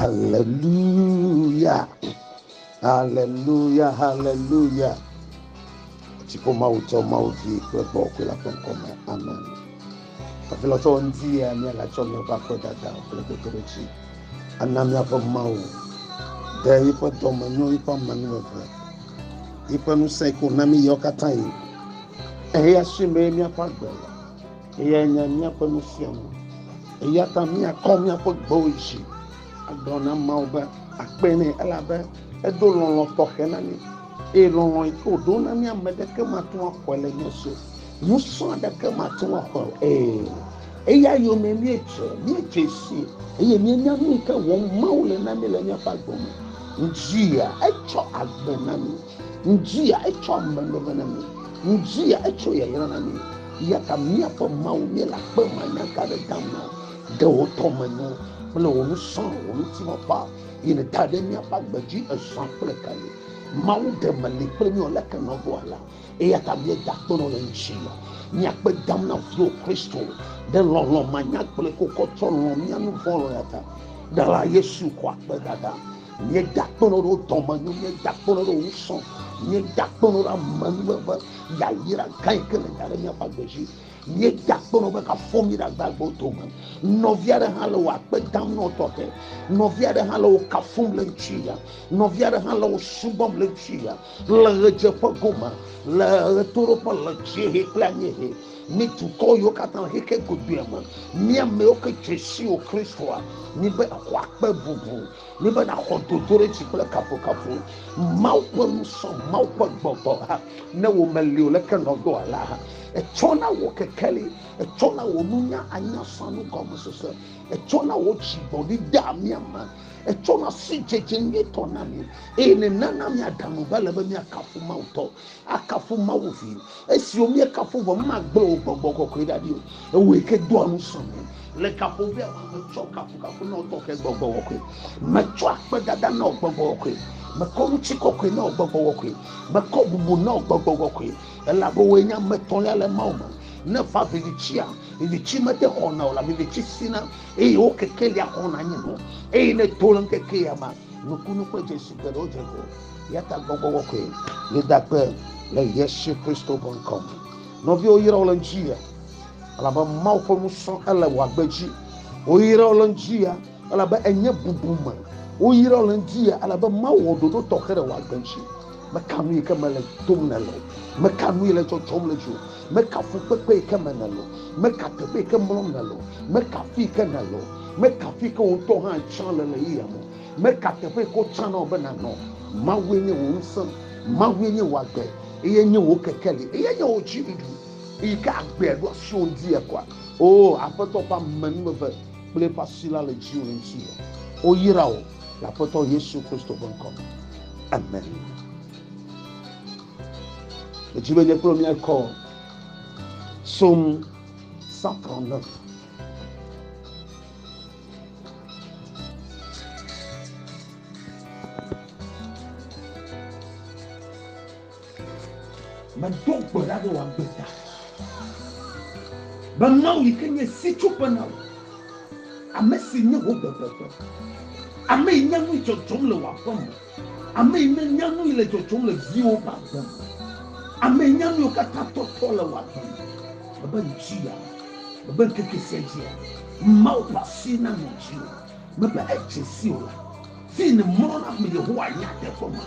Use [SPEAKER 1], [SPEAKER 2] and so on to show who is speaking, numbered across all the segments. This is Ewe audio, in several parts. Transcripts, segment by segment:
[SPEAKER 1] Haleluya! Haleluya! Haleluya! Dziƒo Mawu tsɔ Mawu vi kple gbɔ kple la ƒe ŋkɔme. Amen. Afi lɔ tsɔ ŋdi ya mía la tsɔ mía va kpe dada kple dodoɖedzi. Ana míaƒe Mawu ɖe yiƒe dɔme nyɔ yiƒe amanu eve. Yiƒe ŋusẽ ko na mí yawo katã yi. Eya si mee míaƒe agbe le. Eyae nye míaƒe nufianu. Eya ta míakɔ míaƒe gbewo dzi agblɔ na Mawu be akpe nɛ, elabe edo lɔlɔ̃ tɔxɛ na mí, eye lɔlɔ̃ yi ke wòɖo na mí ame aɖeke mate ŋu axɔe le mía si o. Ŋusẽ aɖeke mate ŋu axɔe o. Ee, eya yome míedze, míedze sii, eye míenya nu yi ke wɔm Mawu le na mí le míaƒe agbe me. Ŋdzia etsɔ agbe na mí. Ŋdzia etsɔ ame veve na mí. Ŋudzia etsɔ yayra na mí. Eyata míaƒe Mawu, míele akpe manyaga aɖe dam na wò. Ɖe wò dɔmenyo kple wò ŋusẽ, wò ŋutilã ƒe ayi nèda ɖe míaƒe agbe dzi ezã kple ɣeaɣi. Mawu, ɖe mèli kple mí o leke nèwɔ alea? Eyata míeda akpe nɔ le ŋutinye. Mí akpe dam na viwò Kristo. Ɖe lɔlɔ̃ manyagblɔe kokɔ tsɔ lɔ̃ mía nuvɔ̃ lɔ̃ ya ta. Ɖela Yesu xɔ akpedada. nye dakpɔnɔ ɖe dɔmenyo nye dakpɔnɔ ɖe wusɔ nye dakpɔnɔ ɖe amenuveve yayra gã yi ke le nya ɖe míaƒe agbe dzi nye dakpɔnɔ be kafɔ mi ɖe agbagbewo dome nɔvi aɖe hã le wò akpe dam nɔ tɔxɛ nɔvi aɖe hã le wò kafum le ŋutsu ya nɔvi aɖe hã le wò subɔm le ŋutsu ya le ɣedzeƒe gome le ɣetoɖoƒe le dziehe kple anyiehe Mi dukɔ yiwo katã le xexe godoea me, mi amewo ke tso si o Kristoa, mibe xɔ akpe bubu, mibe naxɔ dodoɖedzi kple kafukafu. Mawu ƒe ŋusɔ, Mawu ƒe gbɔgbɔ, ne wo meli o leke nɔdoa la, etsɔna wo kekeli, etsɔna wo nunya anya sanu gɔmesese, etsɔna wo dzigbɔɖi dea mia me, etsɔna sidzedze nyuitɔ na mi, eye nenana miaɖe amu be ale be miakafu Mawu tɔ. akafu Mawu vi. Esiwo míekafu vɔ magblẽ wò gbɔgbɔ kɔkɔe ɖa ɖi o. Ewòe ke doa ŋusẽ mí. Le gaƒoƒea me metsɔ kafukafu na wò tɔxɛ gbɔgbɔ kɔkɔe. Metsɔ akpedada na wò gbɔgbɔ kɔkɔe. Mekɔ ŋutikɔkɔe na wò gbɔgbɔ kɔkɔe. Mekɔ bubu na wò gbɔgbɔ kɔkɔe. Elabe wòe nye ame etɔ̃lia le Mawu me. Ne va vivitsia, vivitsi mete xɔna o la, vivitsi sina, eye wo kekelia xɔna nyinɔ. Eye ne to le ŋkekea me, nukunu kple dzesi geɖewo dze gɔme. Yata gbɔgbɔ wɔ koe ne da kpe le Yesu Kristo ƒe ŋkɔ me. Nɔviwo yɔrɔ le ŋutsu ya, elabe Mawu ƒe nusɔ ele wɔ agbe dzi. Woyɔrɔ le ŋutsu ya, elabe enye bubu me. Woyɔrɔ le ŋutsu ya, elabe Mawu wɔ ɖoɖo tɔxɛ le wɔ agbe dzi. Meka nu yi ke me le tom ne le o. Meka nu yi le dzɔdzɔm le dzi o. Meka fukpekpe yi ke me ne le o. Meka teƒe yi ke mlɔm ne le o. Meka fi yi ke ne le o. Meka fi yi ke wò ŋutɔ hã tsã le le yeyea me o. Meka teƒe ko tsã na wò be nànɔ. Mawue nye wò ŋusẽ, Mawue nye wò agbe, Eye nye wò kekeli, Eye nye wò dziɖuɖu. Eyi ke agbea ɖo asiwò ŋdi ekɔa? O, Aƒetɔ ƒe amenuveve kple eƒe asi la le dziwò ŋuti me. Woyra wò le Aƒetɔ Yesu Kristo ƒe ŋkɔ me. Amen. Medi be nye kple wò míakɔ Psaume 139. Medo gbe ɖa be wòagbe ta. Be Mawu yi ke nye sitsoƒe na wò, ame si nye wò bebebe, ame yi nya nu dzɔdzɔm le wò aƒe me. Ame yi ne nya nui le dzɔdzɔm le viwo ƒe agbe me. Ame yi nya nuiwo katã tɔtɔ le wò agbe me. Mebe ŋdi ya, mebe ŋkeke sia dzi ya, Mawu ƒe asi nanɔ dziwò. Mebe edze si o la, fii nèmlɔna ƒe me Yehowa nye ateƒe ma.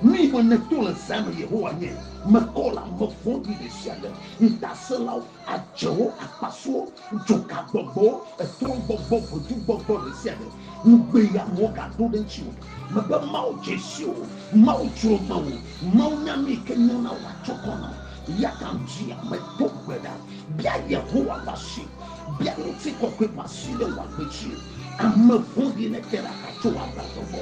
[SPEAKER 1] Nui be nèto le zã me Yehowa nye mekɔla, mevɔ̃ɖi ɖe sia ɖe ŋutasẽlawo. adzewo, akpasuwo, dzokagbɔgbɔwo, etrɔ̃gbɔgbɔ, vodugbɔgbɔ ɖe sia ɖe. Ŋugbeyanuwo gaɖo ɖe ŋutiwò. Mebe Mawu dze si o. Mawu dzro mewò. Mawu nya nu yi ke nyo na wò atsɔ kɔ na wò. Eyata di ame, do gbe ɖa, bia Yehowa ƒe asi. Bia ŋutikɔkɔe ƒe asi ɖe wò agbe dzi. Ame vɔ̃ɖi nete ɖe aka tso wò agbadɔ gbɔ.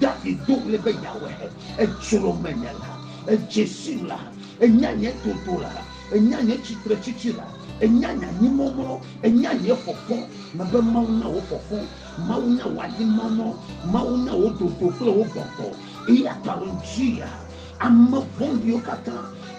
[SPEAKER 1] David do ɣli be Yahweh, èdzrom menye la, èdze sim la, ènya nye totola. Ènya nye tsitretsitsi la. Ènya nye anyimɔmlɔ. Ènya nye fɔfɔ. Mebe Mawu nya wò fɔfɔ. Mawu nya wò anyimɔmlɔ. Mawu nya wò dodo kple wò gbɔgbɔ. Eya ta le ŋutia, ame vɔ̃ɖiwo katã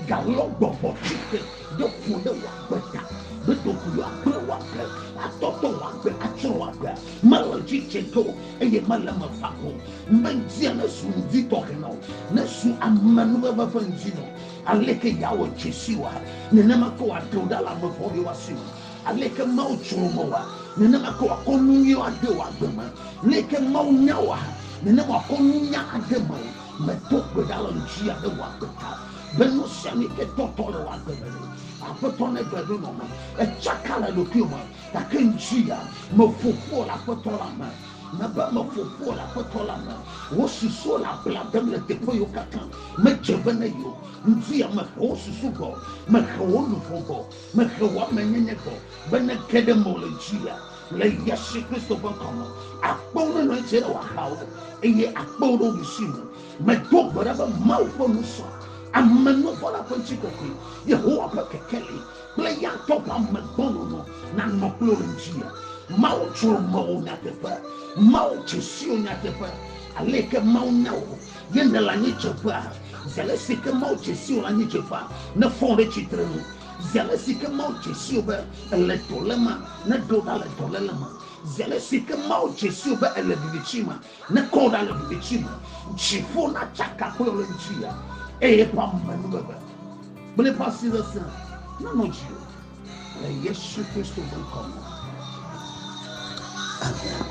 [SPEAKER 1] galɔ gbɔgbɔ tsi te ɖe ƒo ɖe wò agbe ta. Be ɖeko yewoagblẽ wò agbe, atɔtɔ wò agbe, atsrɔ̃ wò agbea, mele edzi tse ge o, eye mele eme va ge o. Ŋdi ŋuti nezu ŋdi tɔxɛ na wò. Nezu amenuveve ƒe ŋdi na wò. Aleke yeawɔ dzesii wɔa? Nenema ke wòaɖe wò ɖa le ame vɔ̃ɖiwo ƒe asi me. Aleke Mawu tso wo me wɔa? Nenema ke wòakɔ nu nyui ade wò agbe me. Leke Mawu nya wòa? Nenema wòakɔ nunya ade mewò. Medo gbe ɖa le ŋutinye abe wò agbe ta, be nusianutɔe tɔtɔ le wò agbe me ɖe. Aƒetɔ negblɔe ɖo nɔm. Etsaka le ɖokuiwò me, gake ŋutinye, meƒo ƒu wò le Aƒetɔ la me. Na be ame gbogboa le Aƒetɔ la me. Wò susuwo le abla dem le teƒeɣiwo katã. Medze be ne yio. Ŋdia mehe wò susu gbɔ. Mehe wò luʋɔ gbɔ. Mehe wò ame nyenye gbɔ. Be ne ge ɖe mewò le dzia, le Yesu Kristo ƒe ŋkɔ me, akpewo ne nɔ anyi tse ɖe wò axawo, eye akpe wò ɖe wò ɖusi nu. Medo gbe ɖa be Mawu ƒe nusɔ, amenuvɔla ƒe ŋutikɔkɔe, Yehowa ƒe kekeli, kple ya ŋutɔ ƒe amegbɔnɔnɔ nanɔ kple wò ŋuti. Mawu tsrɔ̃ amewo nyateƒe. Mawu dze si wò nyateƒe. Ale yi ke Mawu nya wò ye nèle anyidzeƒea. Zi ale si ke Mawu dze si wò le anyidzeƒea, nefɔ wò ɖe tsitre nu. Zi ale si ke Mawu dze si wò be èle dɔléma, neɖe wò ɖa le dɔléle me. Zi ale si ke Mawu dze si wò be èle viviti me. Ne kɔ ɖa le viviti me, dziƒo na tsaka kple ɣleti ya, eye eƒe amenuveve kple eƒe asi sesẽ nanɔ dziwò. Le Yesu Kristo ƒe ŋkɔ me. Amen.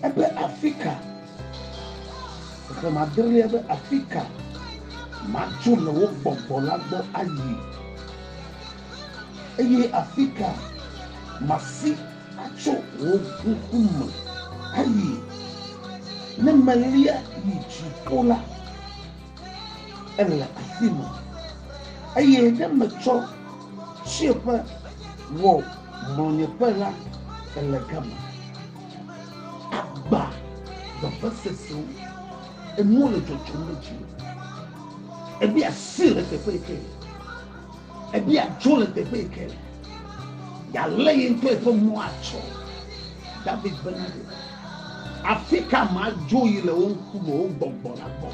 [SPEAKER 1] Ebe Afrika. Xexlẽme adelia be, Afika matso le wò gbɔgbɔ la gbɔ ayi? Eye afika masi atso wò ŋku me ayi? Ne melia yi dziƒo la, èle afima, eye ne metsɔ tsiẽƒe wɔ mlɔnyeƒe la, èle gama. Agbã gbagba sesẽwo. Enuwo le dzɔdzɔm ɖe dziwò. Ebi asi le teƒe yi ke. Ebi adzo le teƒe yi ke. Yalé ye ŋutɔ eƒe mɔ atsɔ. David bena ɖe. Afi ka madzo yi le wo ŋkume, wo gbɔgbɔ la gbɔ?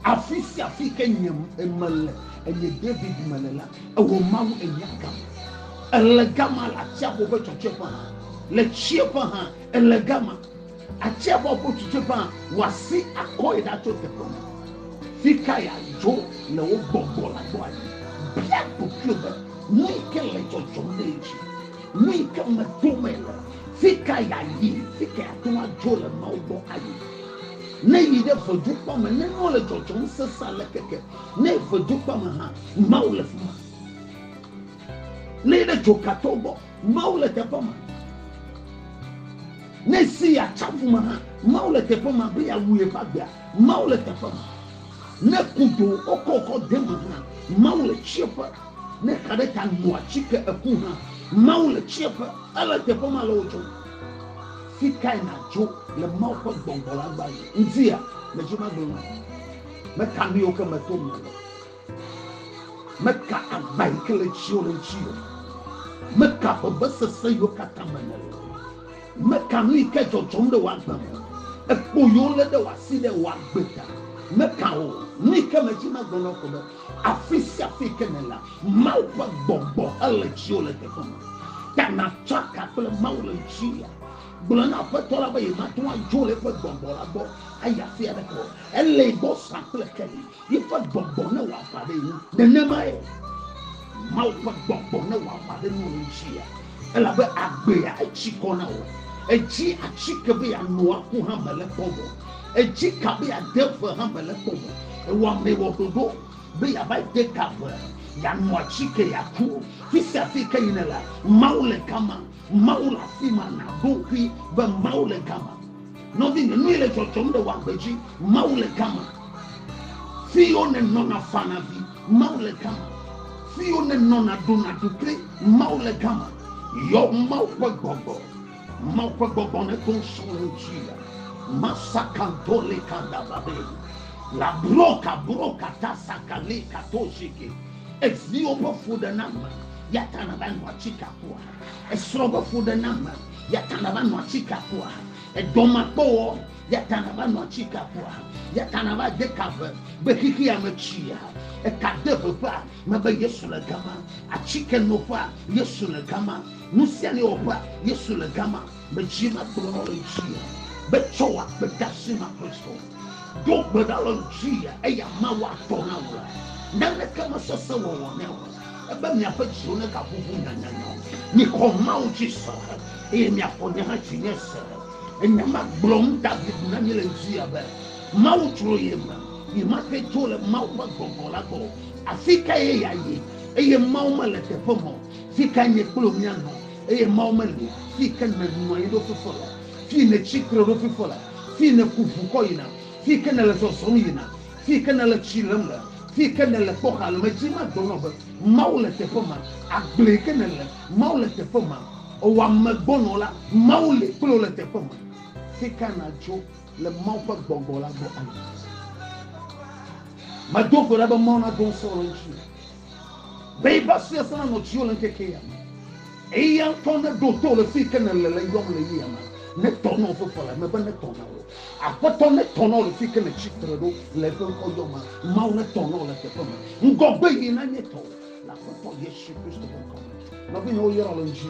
[SPEAKER 1] Afi sia afi ke nye mele, enye David mele la, ewò Mawu enya gam. Ele gama le atsiaƒu ƒe tsɔtsɔeƒe hã, le tsieƒe hã, ele gama. Atsiaƒua ƒe tsɔtsɔeƒe hã, wò asi akɔe ɖa tso teƒe ma. Fi kae adzo le wò gbɔgbɔ la gbɔ ayi? Bia ɖokuiwò be, Nui ke le dzɔdzɔm ɖe edzi? Nui ke me tom mele? Fi ka yeayi? Fi kae ate ŋu adzo le Mawu gbɔ ayi? Ne yi ɖe vedukpɔa me, ne nua le dzɔdzɔm sesẽ aleke ke, ne vedukpɔa me hã, Mawu le fi ma. Lée ɖe dzoka to gbɔ, Mawu le teƒe ma. Ne si ya tsaƒu me hã, Mawu le teƒe ma be yeawu yeƒe agbea, Mawu le teƒe ma. Ne kudo wokɔkɔ de me hã, Mawu le tsieƒe. Ne xa ɖe ta nua tsike eku hã, Mawu le tsieƒe. Ele teƒe ma le wo dzɔm. Fi kae nàdzo le Mawu ƒe gbɔgbɔ la gbɔ ayi? Ŋdi ya, medzi magblɔ na wò. Meka nu yiwo ke meto me le. Meka agba yi ke le tsiwo le ŋuti o. Meka vevesese yiwo katã me nèle o. Meka nu yi ke dzɔdzɔm ɖe wò agbe me. Ekpo yiwo lé ɖe wò asi ɖe wò agbe ta. Meka o. Nu yi ke medi magblɔ na wò ko be, afi sia afi yi ke nèlea, Mawu ƒe gbɔgbɔ ele tsiwo le teƒe ma. Ta nàtsɔ aka kple Mawu le ŋutiwòa? Gblɔ na Aƒetɔ la be yemate ŋu adzo le eƒe gbɔgbɔ la gbɔ ayi afi aɖeke o. Elée gbɔ zã kple keli. Yiƒe gbɔgbɔ ne wɔ aʋa ɖe ŋu. Nenemae Mawu ƒe gbɔgbɔ ne wɔ aʋa ɖe Noa ŋutia, elabe agbea etsi kɔ na wo. Edzi atsike be yeano aku hã mele kpɔ vɔ. Edzi ka be yeade ve hã mele kpɔ vɔ. Ewɔamee wɔ ɖoɖo be yeava de ka ve, yeano atsike, yeaku. Fisiafi ke yi nèle, Mawu le gama. Mawu le afima. Na ɖo ŋkui be Mawu le gama. Nɔvinye, nue le dzɔdzɔm le wagbe dzi, Mawu le gama. Fiyo ne nɔna fana vi, Mawu le gama. Fiyo ne nɔna ɖona ɖukli, Mawu le gama. Yɔ Mawu ƒe gbɔgbɔ, Mawu ƒe gbɔgbɔ ne to ŋsɔ wo ŋutsi ya. Masa kanto le kanda babe. La bro ka bro ka ta sakale ka to sheke. Eviwo ƒe fu ɖe na me, yata na va nua tsi ka kua. Esrɔ̃ be fuɖename, yata nava nɔ atsika kua? Edɔmakpɔwɔ, yata nava nɔ atsika kua? Yata nava de ka ve be xixia me tsia? Eka de veƒea me be Yesu le gama. Atsike noƒea, Yesu le gama. Nusianuiwɔƒea, Yesu le gama. Medzi nakplɔ na le dzia, betsɔ wɔ akpedasi na Kristo. Do gbe ɖa le dzia, eya Mawu atɔ na wò la, naneke mesesẽ wɔwɔ nɛ o, ebe miaƒe dziwo negaʋuʋu nyanyanya o. Mixɔ Mawu dzi se, eye miaxɔ nye hã dzinye se. Enya ma gblɔm David na mí le dzia be, Mawu tsrɔ̃ ye me, yi mate tso le Mawu ƒe gbɔgbɔ la gbɔ o. Afikae ye yeayi, eye Mawu mele teƒe me o? Fikae nye kple wò míanɔ? Eye Mawu meli fii ke nènɔ anyi ɖo fifɔ le, fii nètsi tre ɖo fifɔ le, fii nèku ŋu kɔ yina, fii ke nèle zɔzɔm yina, fii ke nèle tsi lem le, fii ke nèle kpɔ xa le. Medzi magblɔ na wò be, Mawu le teƒe ma. Agble yi ke nèle, Mawu le teƒe ma. Ewɔ ame gbɔna o la, Mawu li kple wò le teƒe ma. Fi ka nàdzo le Mawu ƒe gbɔgbɔ la gbɔ ayi? Medo go ɖa be Mawu nado ŋusẽ wò ɖe ŋutinye. Be va sue sena nɔ tsiwo le ŋkeke ya me. Eya ŋutɔ ne ɖo to le fi ke nele le yɔm le yia me. Ne tɔ nɔ ƒe ƒela me be ne tɔ na wo. Aƒetɔ ne tɔ nɔ le fi ke ne tsi tre ɖo le eƒe ŋkɔ yɔ me. Mawu ne tɔ nɔ le teƒe me. Ŋgɔ gbe yi na nye tɔ le Aƒetɔ Yesu Kristo ƒe ŋkɔ me. Nɔvi nye wo yɔrɔ le ŋdzi.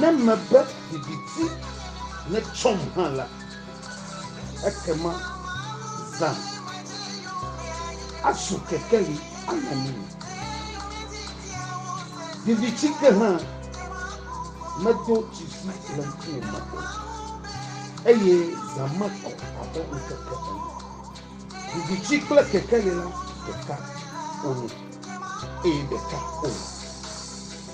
[SPEAKER 1] Ne mebe viviti netsɔm hã la, ekema zã azu kekeli anɔ ŋunye. Viviti ke hã medo tsitsi le ŋkuwò me o, eye zã mekɔ abe ŋutete ene. Viviti kple kekeli la ɖeka wonye, eye ɖeka wole.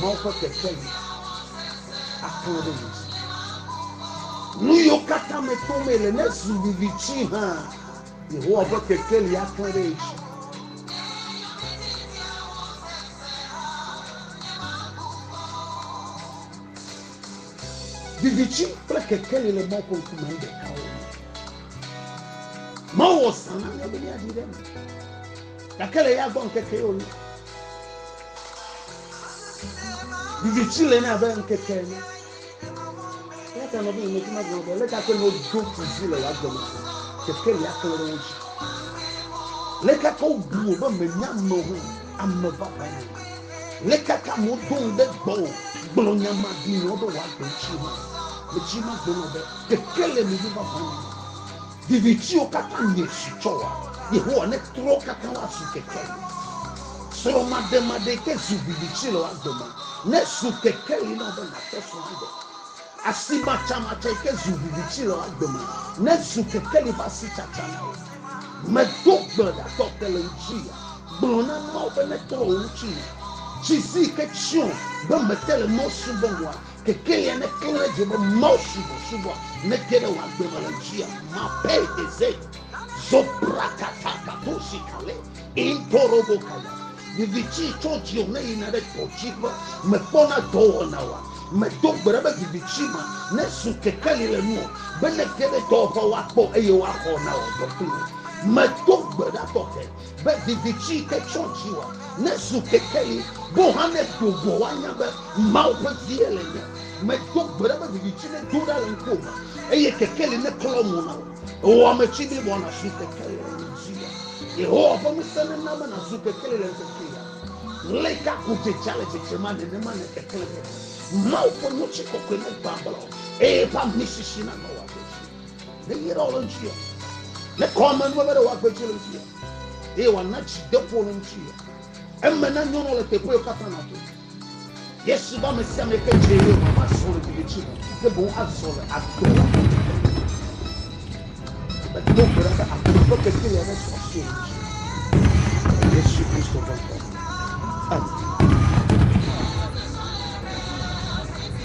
[SPEAKER 1] Mawu ƒe kekeli aklɔ ɖe mia si. Nuyiwo katã me tom ele ne zu viviti hã, Yehowa ƒe kekeli aklɔ ɖe edzi. Viviti kple kekeli le Mawu ƒe ŋkume nu ɖeka wo. Mawu wɔ zã na mía be míaɖi ɖe eme, gake le eya gbɔ ŋkeke yewo nu. Viviti le ne abe ŋkeke ene. Eya ta nɔvi le meti magblɔ be leka ke no do kuzi le wa gɔme se. Keke lia kle ɖe ŋuti. Leka ke wobu wo be menya ame ho ame baba ne. Leka ke amewo do ŋu ɖe gbɔ o. Gblɔ nya ma di nɔ ɖe wa gbe tsi ma. Metsi ma gblɔ be keke le mi baba ne. Vivitiwo katã mietsi tsɔ wɔ Yehowa netrɔ katã woazu kekeli. Srɔ̃maɖemaɖee ke zu viviti le wò agbe me nezu kekeli na wò be nàtsɔ srɔ̃ aɖe. Asimatsamatsae ke zu viviti le wò agbe me nezu kekeli ƒe asitsatsa na wò. Medo gbe ɖa tɔ te le ŋutinye. Gblɔ na Mawu be netrɔ wò ŋutinye. Tsi si ke tsyɔ be mete le Mawu subɔm oa? Kekelia ne klẽ ɖe edzi be Mawu subɔsubɔa nete ɖe wò agbe me le ŋutia. Mapei eze zobrakata katosi kale intorobo kaya. Viviti tso dziwò ne yina ɖe dɔdziƒe. Mekpɔna dɔwɔna oa? Medo gbe ɖa be viviti ma nezu kekeli le nuwò be nete ɖe dɔwɔƒe woakpɔ eye woaxɔ na wò dɔ kpli wò. Medo gbe ɖa tɔxɛ Be viviti yi ke tso dziwòa nezu kekeli boo hã ne do goa woanya be Mawu ƒe vie le nye. Medo gbe ɖa be viviti nedo ɖa le ŋkuwòme eye kekeli neklɔ mo na wò. Wò ame tsi bliboa nàzu kekeli le nye dziwòa. Yehowa ƒe ŋusẽ nena be nàzu kekeli le ŋkeke ya me. Ɣleti ka ko dzedzea le dzedzem a nenema nekeklẽ keke. Mawu ƒe ŋutikɔkɔe negbã ablɔ eye eƒe amisisi nanɔ wò agbe dzi. Ne yi ɖe wòle ŋuti ya. Ne kɔ ame nua be ɖe wòagbe dzi le ŋuti ya. Eye wòana dzi deƒo le ŋuti ya. Eme na nyɔnua le teƒe yio katã na to. Yesu be ame sia ame ke dze yio ma azɔ le dede dzi me. Ke boŋ azɔ le agbe la me. Ebe do gbe ɖa be agbe ƒe keke ya ne sɔ asi le ŋuti. Yesu Kristo ƒe ŋkɔ. Amen.